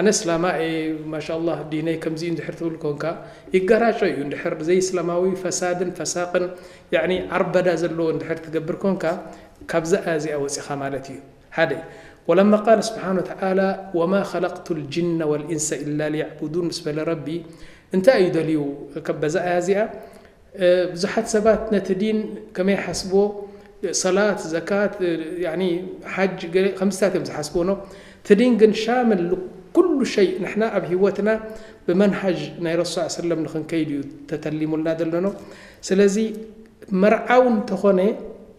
ኣነ እስላማ እየ ማሻላህ ዲነይ ከምዚ እዩ እንድሕር ትብል ኮንካ ይጋራጮ እዩ እንድሕር ዘይእስላማዊ ፈሳድን ፈሳቅን ያኒ ዓርበዳ ዘለዎ እንድሕር ትገብር ኮንካ ካብዛ ኣያ እዚኣ ወጺኻ ማለት እዩ ሓደ ወለማ ቃል ስብሓን ወተዓላ ወማ ኸለቅቱ ልጅነ ወልኢንሰ ኢላ ልያዕቡዱን ምስ በለ ረቢ እንታይ እዩ ደልዩ በዛ ኣያ እዚኣ ብዙሓት ሰባት ነቲ ዲን ከመይ ይሓስብዎ ሰላት ዘካት ያኒ ሓጅ ገለ ከምዚታት እዮም ዝሓስብዎ ን እቲ ዲን ግን ሻምል ን ኩሉ ሸይ ንሕና ኣብ ሂወትና ብመንሃጅ ናይ ረሱል ሰለላሁ ዐለይሂ ወሰለም ንኽንከይድ እዩ ተተሊሙልና ዘሎ ን ስለዚ መርዓዊ እንተኾነ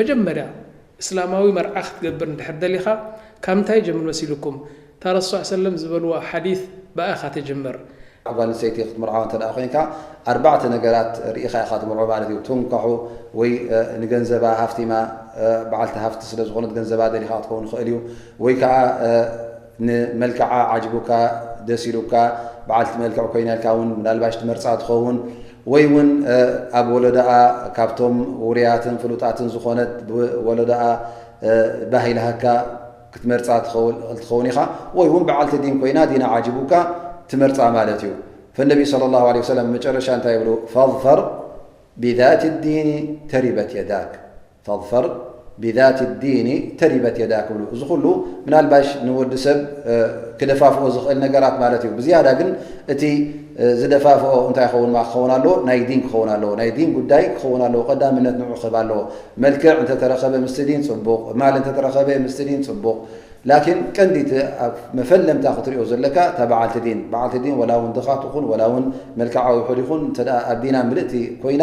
መጀመርያ እስላማዊ መርዓ ክትገብር እንድሕር ደሊኻ ካብ እንታይ ይጀምር መሲልኩም እታ ረሱዕ ሰለም ዝበልዋ ሓዲት ብኣ ኢኻ ትጅምር። ጓል ኣንስተይቲ ክትምርዓው እንተድኣ ኮይንካ ኣርባዕተ ነገራት ርኢኻ ኢኻ ትምርዖ ማለት እዩ ትንካሑ ወይ ንገንዘባ ሃፍቲማ በዓልቲ ሃፍቲ ስለ ዝኾነት ገንዘባ ደሊኻ ክትከውን ይኽእል እዩ ወይ ከኣ ንመልክዓ ዓጅቡካ ደስ ኢሉካ በዓልቲ መልክዕ ኮይና ኢልካ ውን ምናልባሽ ትመርጻ ትኸውን ወይ ውን ኣብ ወለዶኣ ካብቶም ውሩያትን ፍሉጣትን ዝኾነት ብወለዶኣ ባህ ኢልሃካ ክትመርጻ ትኸእል ትኸውን ኢኻ ወይ ውን በዓልቲ ዲን ኮይና ዲና ዓጅቡካ ትመርጻ ማለት እዩ ፈነቢ ሰለላሁ ዓለይሂ ወሰለም መጨረሻ እንታይ ይብሉ ፈዝፈር ቢዛቲ ዲኒ ተሪበት የዳክ ፈظፈር ብዛቲ ዲኒ ተሪበት የዳክ ይብሉ። እዚ ኩሉ ምናልባሽ ንወዲ ሰብ ክደፋፍኦ ዝኽእል ነገራት ማለት እዩ። ብዝያዳ ግን እቲ ዝደፋፍኦ እንታይ ይኸውን ማ ክኸውን ኣለዎ? ናይ ዲን ክኸውን ኣለዎ። ናይ ዲን ጉዳይ ክኸውን ኣለዎ። ቀዳምነት ንዑ ክህብ ኣለዎ። መልክዕ እንተተረኸበ ምስቲ ዲን ጽቡቕ፣ ማል እንተተረኸበ ምስቲ ዲን ጽቡቕ። ላኪን ቀንዲ እቲ ኣብ መፈለምታ ክትሪኦ ዘለካ እታ በዓልቲ ዲን። በዓልቲ ዲን ወላ እውን ድኻ ትኹን ወላ እውን መልክዓ ውሑድ ይኹን እንተ ኣብ ዲና ምልእቲ ኮይና፣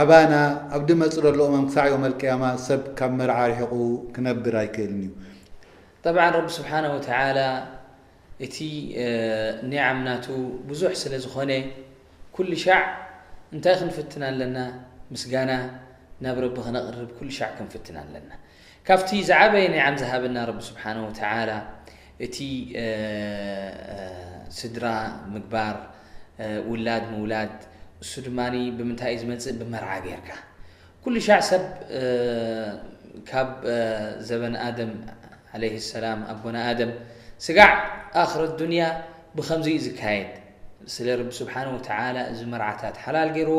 ኣባና ኣብ ድመጽእ ደሎ እዋን ክሳዕ የውመል ቅያማ ሰብ ካብ መርዓ ርሒቁ ክነብር ኣይክእልን እዩ። ጠብዓን ረቢ ስብሓነሁ ወተዓላ እቲ ኒዓም ናቱ ብዙሕ ስለ ዝኾነ ኩሉ ሻዕ እንታይ ክንፍትን ኣለና ምስጋና ናብ ረቢ ክነቅርብ ኩሉ ሻዕ ክንፍትን ኣለና። ካብቲ ዝዓበየ ኒዓም ዝሃበና ረቢ ስብሓነሁ ወተዓላ እቲ ስድራ ምግባር፣ ውላድ ምውላድ፣ እሱ ድማ ብምንታይ እዩ ዝመፅእ ብመርዓ ገይርካ። ኩሉሻዕ ሰብ ካብ ዘበን ኣደም ዓለይሂ ሰላም ኣቦና ኣደም ስጋዕ ኣኽር ኣዱንያ ብኸምዚ እዩ ዝካየድ። ስለ ረቢ ስብሓነሁ ወተዓላ እዚ መርዓታት ሓላል ገይርዎ፣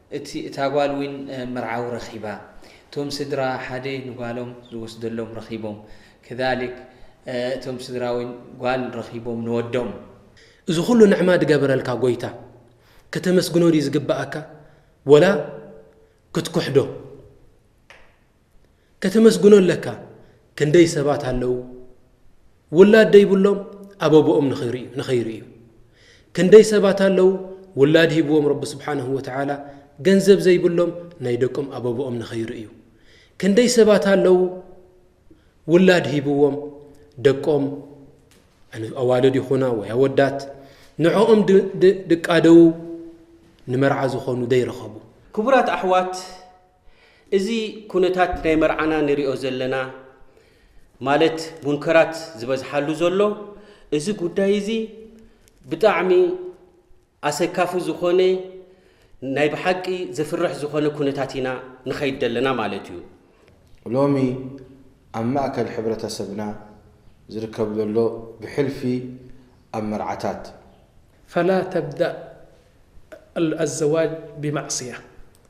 እቲ እታ ጓል ዊን መርዓዊ ረኪባ እቶም ስድራ ሓደ ንጓሎም ዝወስደሎም ረኪቦም ክዛሊክ እቶም ስድራ ዊን ጓል ረኪቦም ንወዶም። እዚ ኩሉ ንዕማ ድገበረልካ ጎይታ ከተመስግኖ ድዩ ዝግበኣካ ወላ ክትኩሕዶ። ከተመስግኖ ኣለካ ክንደይ ሰባት ኣለዉ ውላድ ደይብሎም ኣበቦኦም ንኸይርእዩ ክንደይ ሰባት ኣለዉ ውላድ ሂብዎም ረቢ ስብሓንሁ ወተዓላ ገንዘብ ዘይብሎም ናይ ደቆም ኣበቦኦም ንኸይርእዩ ክንደይ ሰባት ኣለዉ ውላድ ሂብዎም ደቆም ኣዋልድ ይኹና ወይ ኣወዳት ንዕኦም ድቃደዉ ንመርዓ ዝኾኑ ዘይረኸቡ ክቡራት ኣሕዋት እዚ ኩነታት ናይ መርዓና ንሪኦ ዘለና ማለት ሙንከራት ዝበዝሓሉ ዘሎ እዚ ጉዳይ እዚ ብጣዕሚ ኣሰካፊ ዝኾነ ናይ ብሓቂ ዘፍርሕ ዝኾነ ኩነታት ኢና ንኸይድ ዘለና ማለት እዩ። ሎሚ ኣብ ማእከል ሕብረተሰብና ዝርከብ ዘሎ ብሕልፊ ኣብ መርዓታት። ፈላ ተብደእ ኣልዘዋጅ ብማዕስያ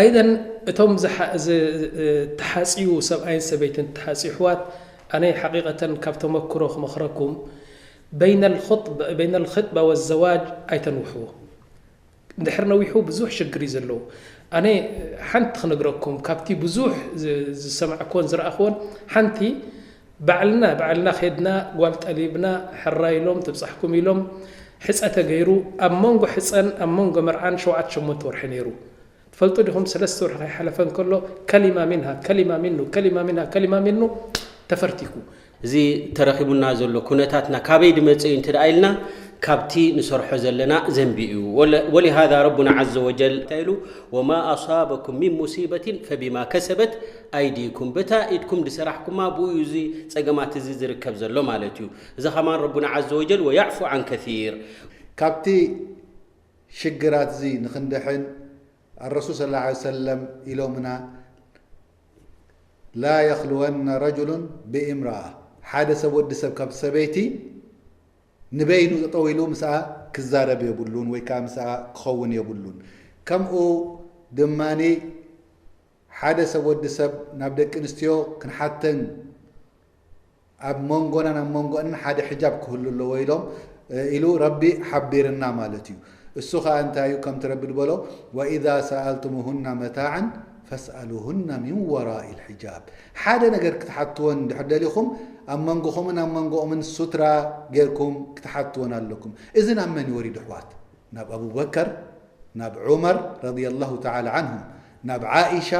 ኣይደን እቶም ዝተሓጽዩ ሰብኣይን ሰበይትን ትሓጽ ይሕዋት ኣነ ሓቂቀተን ካብ ተመክሮ ክመኽረኩም በይነል ኽጥባ ወዘዋጅ ኣይተንውሕዎ ድሕር ነዊሑ ብዙሕ ሽግር እዩ ዘለዉ ኣነ ሓንቲ ክነግረኩም ካብቲ ብዙሕ ዝሰማዕክዎን ዝረኣኽዎን ሓንቲ ባዕልና ባዕልና ኬድና ጓል ጠሊብና ሕራይ ኢሎም ትብጻሕኩም ኢሎም ሕጸ ተገይሩ ኣብ መንጎ ሕጸን ኣብ መንጎ መርዓን ሸውዓተ ሸሞንተ ወርሒ ነይሩ ትፈልጡ ዲኹም ሰለስተ ወርሒ ከይሓለፈ እንከሎ ከሊማ ሚንሃ ከሊማ ሚኑ ከሊማ ሚንሃ ከሊማ ሚኑ ተፈርቲኩ እዚ ተረኺቡና ዘሎ ኩነታትና ካበይ ድመጸ እዩ እንተድኣ ኢልና ካብቲ ንሰርሖ ዘለና ዘንቢ እዩ ወለ ወሊሃዛ ረቡና ዓዘ ወጀል እንታይ ኢሉ ወማ ኣሳበኩም ሚን ሙሲበትን ፈቢማ ከሰበት ኣይዲኩም በታ ኢድኩም ድሰራሕኩማ ብኡ እዩ እዚ ጸገማት እዚ ዝርከብ ዘሎ ማለት እዩ እዛ ከማን ረቡና ዓዘ ወጀል ወያዕፉ ዓን ከሲር። ካብቲ ሽግራት እዚ ንክንድሕን ኣረሱል ሰለላሁ ዓለይሂ ወሰለም ኢሎምና ላ የኽልወነ ረጁሉን ብእምረኣ ሓደ ሰብ ወዲ ሰብ ካብ ሰበይቲ ንበይኑ ጠጠው ኢሉ ምስኣ ክዛረብ የብሉን ወይ ከዓ ምስኣ ክኸውን የብሉን ከምኡ ድማ ሓደ ሰብ ወዲ ሰብ ናብ ደቂ ኣንስትዮ ክንሓተን ኣብ ሞንጎናን ኣብ ሞንጎኣንን ሓደ ሕጃብ ክህሉ ኣለዎ ኢሎም ኢሉ ረቢ ሓቢርና ማለት እዩ እሱ ከኣ እንታይ እዩ ከምቲ ረቢ ድበሎ ወኢዛ ሰኣልቱሙሁና መታዕን ፈስኣሉሁና ሚን ወራኢ ልሕጃብ ሓደ ነገር ክትሓትወን እንድሕር ደሊኹም ኣብ መንጎኹምን ኣብ መንጎኦምን ሱትራ ጌርኩም ክትሓትወን ኣለኩም እዚ ናብ መን ይወሪዱ ኣሕዋት ናብ ኣቡበከር ናብ ዑመር ረድየላሁ ተዓላ ዓንሁም ናብ ዓኢሻ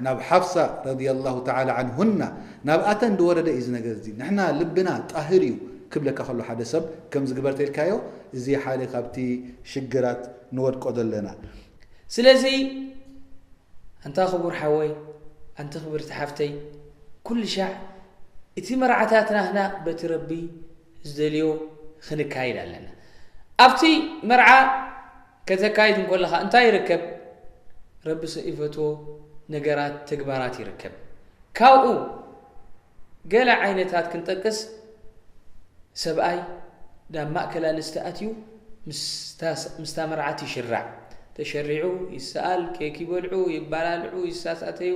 ናብ ሓፍሳ ረዲየላሁ ተዓላ ዓንሁና ናብኣተን ዝወረደ እዩ እዚ ነገር እዚ ንሕና ልብና ጣህር እዩ ክብለካ ከሎ ሓደ ሰብ ከምዚ ግበር ተኢልካዮ እዚ ሓደ ካብቲ ሽግራት ንወድቆ ዘለና ስለዚ ኣንታ ክቡር ሓወይ ኣንቲ ክብርቲ ሓፍተይ ኩልሻዕ እቲ መርዓታትና ህና በቲ ረቢ ዝደልዮ ክንካይድ ኣለና ኣብቲ መርዓ ከተካይድ እንኮለኻ እንታይ ይርከብ? ረቢ ሰኢፈትዎ ነገራት ተግባራት ይርከብ። ካብኡ ገለ ዓይነታት ክንጠቅስ ሰብኣይ ናብ ማእከል ኣንስቲ ኣትዩ ምስታ መርዓት ይሽራዕ፣ ተሸሪዑ፣ ይሰኣል፣ ኬክ ይበልዑ፣ ይባላልዑ፣ ይሳሳተዩ፣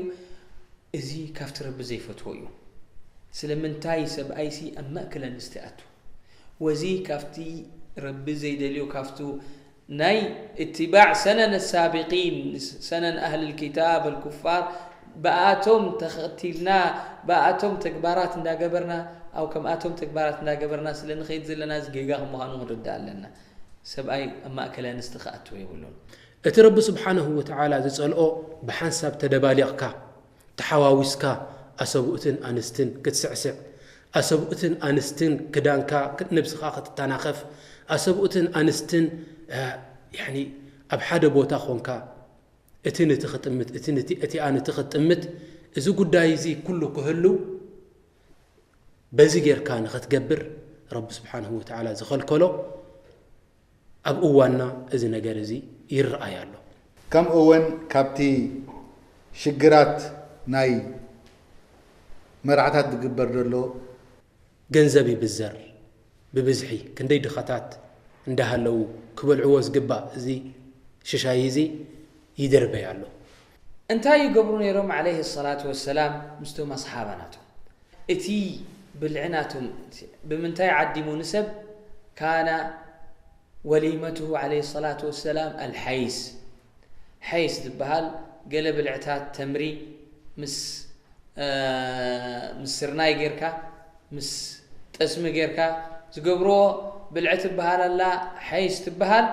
እዚ ካብቲ ረቢ ዘይፈትዎ እዩ። ስለምንታይ ሰብኣይሲ ኣብ ማእከል ኣንስቲ ኣቱ? ወዚ ካብቲ ረቢ ዘይደልዮ ካብቱ ናይ እትባዕ ሰነን ኣሳቢቂን ሰነን ኣህልል ክታብ ኣልኩፋር ብኣኣቶም ተከቲልና ብኣኣቶም ተግባራት እንዳገበርና ኣው ከምኣቶም ተግባራት እንዳገበርና ስለ ንከይድ ዘለና እዚ ጌጋ ከምዃኑ ክንርዳእ ኣለና ሰብኣይ ኣብ ማእከል ኣንስቲ ክኣትው የብሉን እቲ ረቢ ስብሓነሁ ወተዓላ ዝጸልኦ ብሓንሳብ ተደባሊቅካ ተሓዋዊስካ ኣሰብኡትን ኣንስትን ክትስዕስዕ፣ ኣሰብኡትን ኣንስትን ክዳንካ ንብስኻ ክትታናኸፍ፣ ኣሰብኡትን ኣንስትን ያኒ ኣብ ሓደ ቦታ ኮንካ እቲ ንቲ ክጥምት እቲ ንቲ እቲኣ ንቲ ክትጥምት እዚ ጉዳይ እዚ ኩሉ ክህሉ በዚ ጌርካ ንክትገብር ረቢ ስብሓንሁ ወተዓላ ዝኸልከሎ ኣብ እዋንና እዚ ነገር እዚ ይረኣይ ኣሎ። ከምኡ ውን ካብቲ ሽግራት ናይ መርዓታት ዝግበር ዘሎ። ገንዘብ ይብዘር ብብዝሒ ክንደይ ድኻታት እንዳሃለዉ ክበልዕዎ ዝግባእ እዚ ሽሻይ እዚ ይድርበይ ኣሎ። እንታይ ይገብሩ ነይሮም ዓለይሂ ሰላቱ ወሰላም ምስቶም ኣስሓባ ናቶም እቲ ብልዒ ናቶም ብምንታይ ዓዲሙ ንሰብ ካነ ወሊመቱሁ ዓለይሂ ሰላቱ ወሰላም ኣልሐይስ ሐይስ ዝብሃል ገለ ብልዕታት ተምሪ ምስ ስርናይ ጌርካ ምስ ጠስሚ ጌርካ ዝገብርዎ ብልዒ ትብሃል ኣላ ሐይስ ትብሃል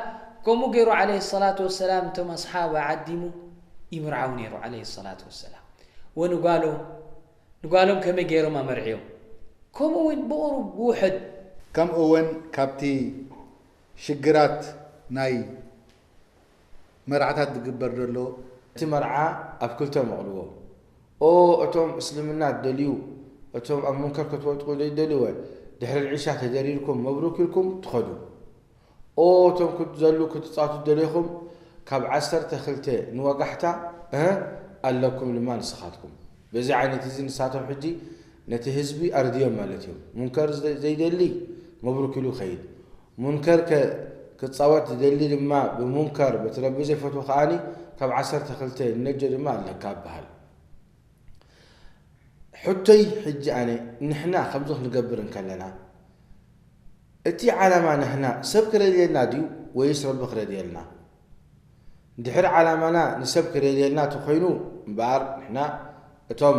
ከምኡ ጌሩ ዓለይሂ ሰላቱ ወሰላም እቶም ኣስሓባ ዓዲሙ ይምርዓው ኔሩ ዓለይሂ ሰላቱ ወሰላም ወንጓሎም ንጓሎም ከመይ ጌሮም ኣመርዕዮም ከምኡ ውን ብቁሩብ ብውሕድ ከምኡ ውን ካብቲ ሽግራት ናይ። መርዓታት ዝግበር ዘሎ። እቲ መርዓ ኣብ ክልተ መቕልዎ ኦ እቶም እስልምና ትደልዩ እቶም ኣብ ሙንከር ክትወድቁ ዘይትደልዩወ ድሕሪ ልዒሻ ተደሪርኩም መብሩክ ኢልኩም ትኸዱ ኦ እቶም ክትዘሉ ክትጻቱ ዝደለኹም ካብ ዓሰርተ ክልተ ንወጋሕታ እህ ኣለኩም ድማ ንስኻትኩም በዚ ዓይነት እዚ ንሳቶም ሕጂ ነቲ ህዝቢ ኣርድዮም ማለት እዮም ሙንከር ዘይደሊ መብሩክ ኢሉ ይኸይድ ሙንከር ከ ክጻወት ዝደሊ ድማ ብሙንከር በቲ ረቢ ዘይፈትዎ ከኣ ካብ ዓሰርተ ክልተ ንነጆ ድማ ኣለካ ይበሃል። ሕቶይ ሕጂ ኣነ ንሕና ከምዚ ክንገብር እንከለና እቲ ዓላማ ንሕና ሰብ ክረድየልና ድዩ ወይስ ረቢ ክረድየልና? ድሕሪ ዓላማና ንሰብ ክረድየልና ተኮይኑ እምበኣር ንሕና እቶም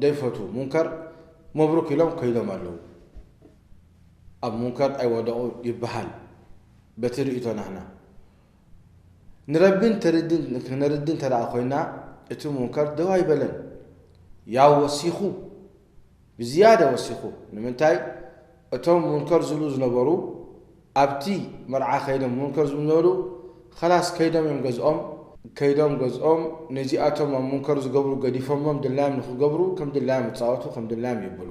ደይፈትዉ ሙንከር መብሩክ ኢሎም ከይዶም ኣለዉ። ኣብ ሙንከር ኣይወደቁ ይበሃል በቲ ርእይቶ ናህና ንረቢ ክነርዲ እንተ ኮይና እቲ ሙንከር ደው ኣይበለን ያው ወሲኹ ብዝያዳ ወሲኹ ንምንታይ እቶም ሙንከር ዝብሉ ዝነበሩ ኣብቲ መርዓ ከይዶም ሙንከር ዝብሉ ዝነበሩ ኸላስ ከይዶም እዮም ገዝኦም ከይዶም ገዝኦም ነዚኣቶም ኣብ ሙንከር ዝገብሩ ገዲፎሞም ድላዮም ንኽገብሩ ከም ድላዮም ይጻወቱ ከም ድላዮም ይብሉ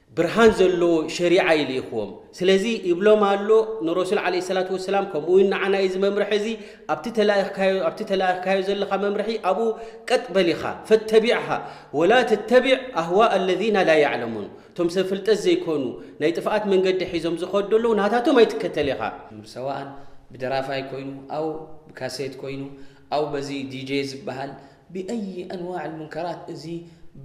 ብርሃን ዘለዎ ሸሪዓ እዩ ልኢኽዎም ስለዚ ይብሎም ኣሎ ንረሱል ዓለይሂ ሰላቱ ወሰላም ከምኡ ውን ንዓና እዚ መምርሒ እዚ ኣብቲ ተላኢኽካዮ ኣብቲ ተላኢኽካዮ ዘለኻ መምርሒ ኣብኡ ቀጥ በል ኢኻ ፈተቢዕሃ ወላ ተተቢዕ ኣህዋእ ኣለዚና ላ ያዕለሙን እቶም ሰብ ፍልጠት ዘይኮኑ ናይ ጥፍኣት መንገዲ ሒዞም ዝኸዱ ዘለዉ ናታቶም ኣይትከተል ኢኻ ሰዋኣን ብደራፋይ ኮይኑ ኣው ብካሴት ኮይኑ ኣው በዚ ዲጄ ዝብሃል ብኣይ ኣንዋዕ ኣልሙንከራት እዚ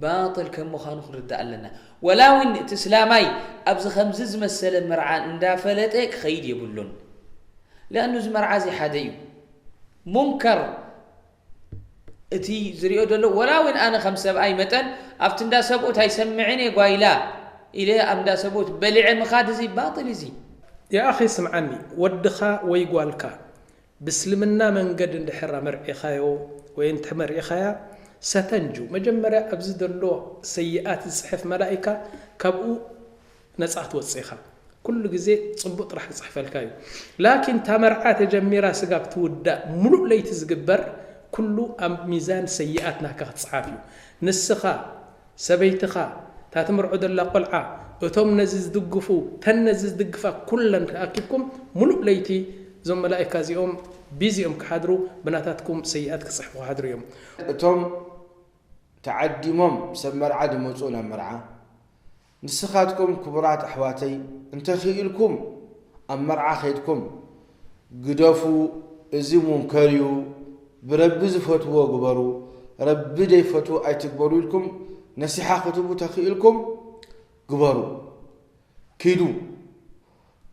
ባጥል ከም ምዃኑ ክንርዳእ ኣለና። ወላ ውን እቲ እስላማይ ኣብዚ ከምዚ ዝመሰለ መርዓ እንዳፈለጠ ክኸይድ የብሉን። ሊኣኑ እዚ መርዓ እዚ ሓደ እዩ። ሙንከር እቲ ዝሪኦ ዘሎ ወላ ውን ኣነ ከም ሰብኣይ መጠን ኣብቲ እንዳ ሰብኡት ኣይሰምዕን እየ ጓይላ ኢለ ኣብ እንዳ ሰብኡት በሊዐ ምኻድ እዚ ባጥል እዚ። ያኣኺ ስምዓኒ ወድኻ ወይ ጓልካ ብእስልምና መንገድ እንድሕር ኣመርዒኻዮ ወይ እንተ መርዒኻያ ሰተንጁ መጀመርያ ኣብዚ ዘሎ ሰይኣት ዝጽሕፍ መላኢካ ካብኡ ነጻ ክትወጽእ ኢኻ ኩሉ ግዜ ጽቡቅ ጥራሕ ክጽሕፈልካ እዩ ላኪን እታ መርዓ ተጀሚራ ስጋብ ትውዳእ ምሉእ ለይቲ ዝግበር ኩሉ ኣብ ሚዛን ሰይኣት ናትካ ክጽሓፍ እዩ ንስኻ ሰበይትኻ፣ እታ ትምርዖ ዘላ ቆልዓ፣ እቶም ነዚ ዝድግፉ፣ እተን ነዚ ዝድግፋ ኩለን ተኣኪብኩም ምሉእ ለይቲ እዞም መላኢካ እዚኦም ቢዚ እዮም ክሓድሩ ብናታትኩም ሰይኣት ክጽሕፉ ክሓድሩ እዮም። እቶም ተዓዲሞም ሰብ መርዓ ዝመጽኡ ናብ መርዓ፣ ንስኻትኩም ክቡራት ኣሕዋተይ እንተኺኢልኩም ኣብ መርዓ ከይድኩም፣ ግደፉ እዚ ሙንከር እዩ ብረቢ ዝፈትዎ ግበሩ ረቢ ደይፈትዎ ኣይትግበሩ ኢልኩም ነሲሓ ክትቡ ተኪእልኩም ግበሩ ኪዱ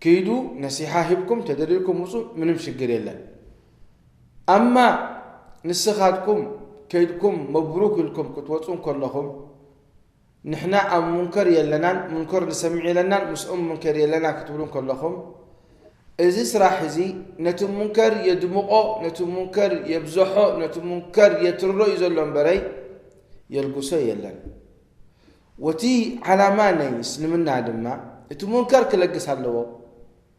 ኪዱ ነሲሓ ሂብኩም ተደሊልኩም ምጹ ምንም ሽግር የለን ኣማ ንስኻትኩም ከይድኩም መብሩክ ኢልኩም ክትወጹ ከለኹም ንሕና ኣብ ሙንከር የለናን፣ ሙንከር ንሰምዕ የለናን፣ ምስኦም ምንከድ የለናን ክትብሉ እንከለኹም፣ እዚ ስራሕ እዚ ነቲ ሙንከር የድምቖ፣ ነቲ ሙንከር የብዘሖ፣ ነቲ ሙንከር የትርሮ እዩ ዘሎ እምበረይ የልግሶ የለን። ወቲ ዓላማ ናይ እስልምና ድማ እቲ ሙንከር ክለግስ ኣለዎ።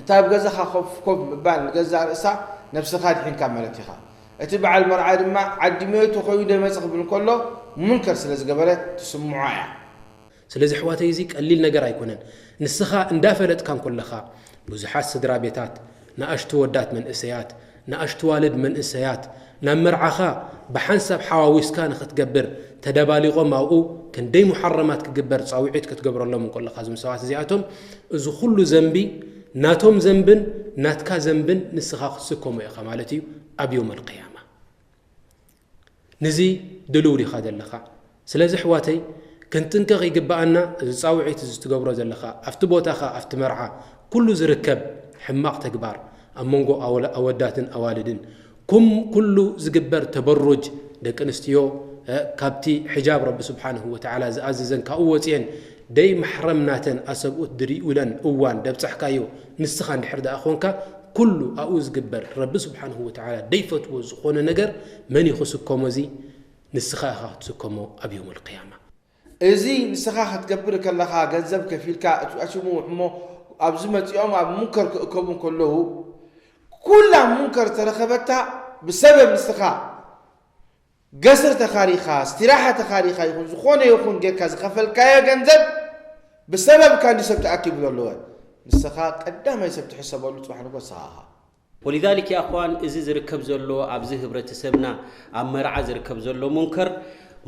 እቲ ኣብ ገዛኻ ኮፍ ኮፍ ምባል ንገዛእ ርእሳ ነብስኻ ኣድሒንካ ማለት ኢኻ። እቲ በዓል መርዓ ድማ ዓዲ ሜቱ ኮይኑ ደመጽ ክብል እንከሎ ሙንከር ስለ ዝገበረ ትስምዖ እያ። ስለዚ ኣሕዋተይ እዚ ቀሊል ነገር ኣይኮነን። ንስኻ እንዳፈለጥካ እንኮለኻ ብዙሓት ስድራቤታት ንኣሽቱ ወዳት መንእሰያት ንኣሽቱዋልድ መንእሰያት ናብ መርዓኻ ብሓንሳብ ሓዋዊስካ ንኽትገብር ተደባሊቖም ኣብኡ ክንደይ ሙሓረማት ክግበር ጻውዒት ክትገብረሎም እንከለኻ እዞም ሰባት እዚኣቶም እዚ ኩሉ ዘንቢ ናቶም ዘንብን ናትካ ዘንብን ንስኻ ክትስከሞ ኢኻ ማለት እዩ ኣብ ዮም ኣልቅያማ ንዚ ድሉው ዲኻ ዘለኻ? ስለዚ ኣሕዋተይ ክንጥንቀቕ ይግበኣና፣ እዚ ጻውዒት እዚ ትገብሮ ዘለኻ ኣብቲ ቦታኻ ኣብቲ መርዓ ኩሉ ዝርከብ ሕማቕ ተግባር ኣብ መንጎ ኣወዳትን ኣዋልድን ኩም ኩሉ ዝግበር ተበሩጅ ደቂ ኣንስትዮ ካብቲ ሕጃብ ረቢ ስብሓነሁ ወተዓላ ዝኣዘዘን ካብኡ ወጺኤን ደይ ማሕረም ናተን ኣሰብኡት ድሪኡለን እዋን ደብጻሕካዮ ንስኻ እንድሕር ደኣ ኮንካ ኩሉ ኣብኡ ዝግበር ረቢ ስብሓንሁ ወተዓላ ደይፈትዎ ዝኾነ ነገር መን እዩ ክስከሞ እዚ ንስኻ ኢኻ ክትስከሞ ኣብ ዮም ኣልቅያማ። እዚ ንስኻ ክትገብር ከለኻ ገንዘብ ከፊልካ እቲ ኣሽሙሙሕ እሞ ኣብዚ መጺኦም ኣብ ሙንከር ክእከቡ እንከለዉ ኩላ ሙንከር ዝተረኸበታ ብሰበብ ንስኻ ገስር ተኻሪኻ፣ ስቲራሓ ተኻሪኻ ይኹን ዝኾነ ይኹን ጌርካ ዝኸፈልካዮ ገንዘብ ብሰበብ ካንዲ ሰብ ተኣኪቡ ዘሎወ ንሰኻ ቀዳማይ ሰብ ትሕሰበሉ ጽባሕ ንግሆ ንሰኻ ኢኻ። ወሊዛሊክ ያእኽዋን እዚ ዝርከብ ዘሎ ኣብዚ ህብረተሰብና ኣብ መርዓ ዝርከብ ዘሎ ሙንከር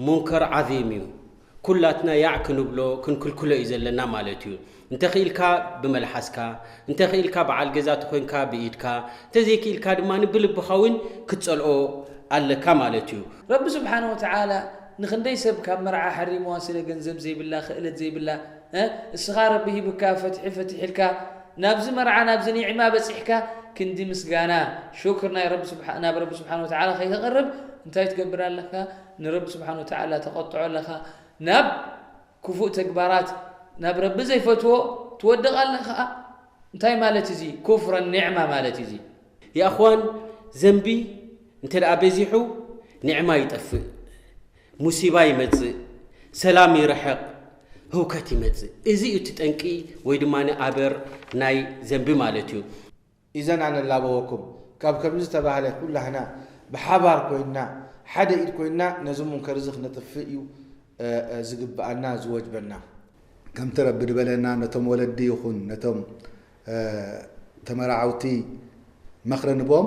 ሙንከር ዓዚም እዩ። ኩላትና ያዕ ክንብሎ ክንክልክሎ እዩ ዘለና ማለት እዩ። እንተኽኢልካ ብመልሓስካ፣ እንተኽኢልካ በዓል ገዛ ተኾይንካ ብኢድካ፣ እንተዘይክኢልካ ድማ ብልብኻ እውን ክትጸልኦ ኣለካ ማለት እዩ። ረቢ ስብሓነሁ ወተዓላ ንኽንደይ ሰብ ካብ መርዓ ሓሪምዋ ስለ ገንዘብ ዘይብላ ኽእለት ዘይብላ እ እስኻ ረቢ ሂብካ ፈትሒ ፈቲሕልካ ናብዚ መርዓ ናብዚ ኒዕማ በጺሕካ ክንዲ ምስጋና፣ ሹክር፣ ናይ ረቢ ናብ ረቢ ስብሓነሁ ወተዓላ ከይተቕርብ እንታይ ትገብር ኣለኻ? ንረቢ ስብሓን ወተዓላ ተቐጥዖ ኣለኻ ናብ ክፉእ ተግባራት ናብ ረቢ ዘይፈትዎ ትወድቕ ኣለኻ እንታይ ማለት እዚ ኩፍረ ኒዕማ ማለት እዚ። የኣኽዋን ዘንቢ እንተ በዚሑ ኒዕማ ይጠፍእ ሙሲባ ይመጽእ ሰላም ይርሕቕ ህውከት ይመጽእ እዚ እዩ እቲ ጠንቂ ወይ ድማ ኣበር ናይ ዘንቢ ማለት እዩ። ኢዘና ንላበወኩም ካብ ከምዚ ዝተባህለ ኩላህና ብሓባር ኮይንና ሓደ ኢድ ኮይንና ነዚ ሙንከር እዚ ክነጥፍእ እዩ ዝግብኣና ዝወጅበና። ከምቲ ረቢ ድበለና ነቶም ወለዲ ይኹን ነቶም ተመራዓውቲ መኽሪ ንቦም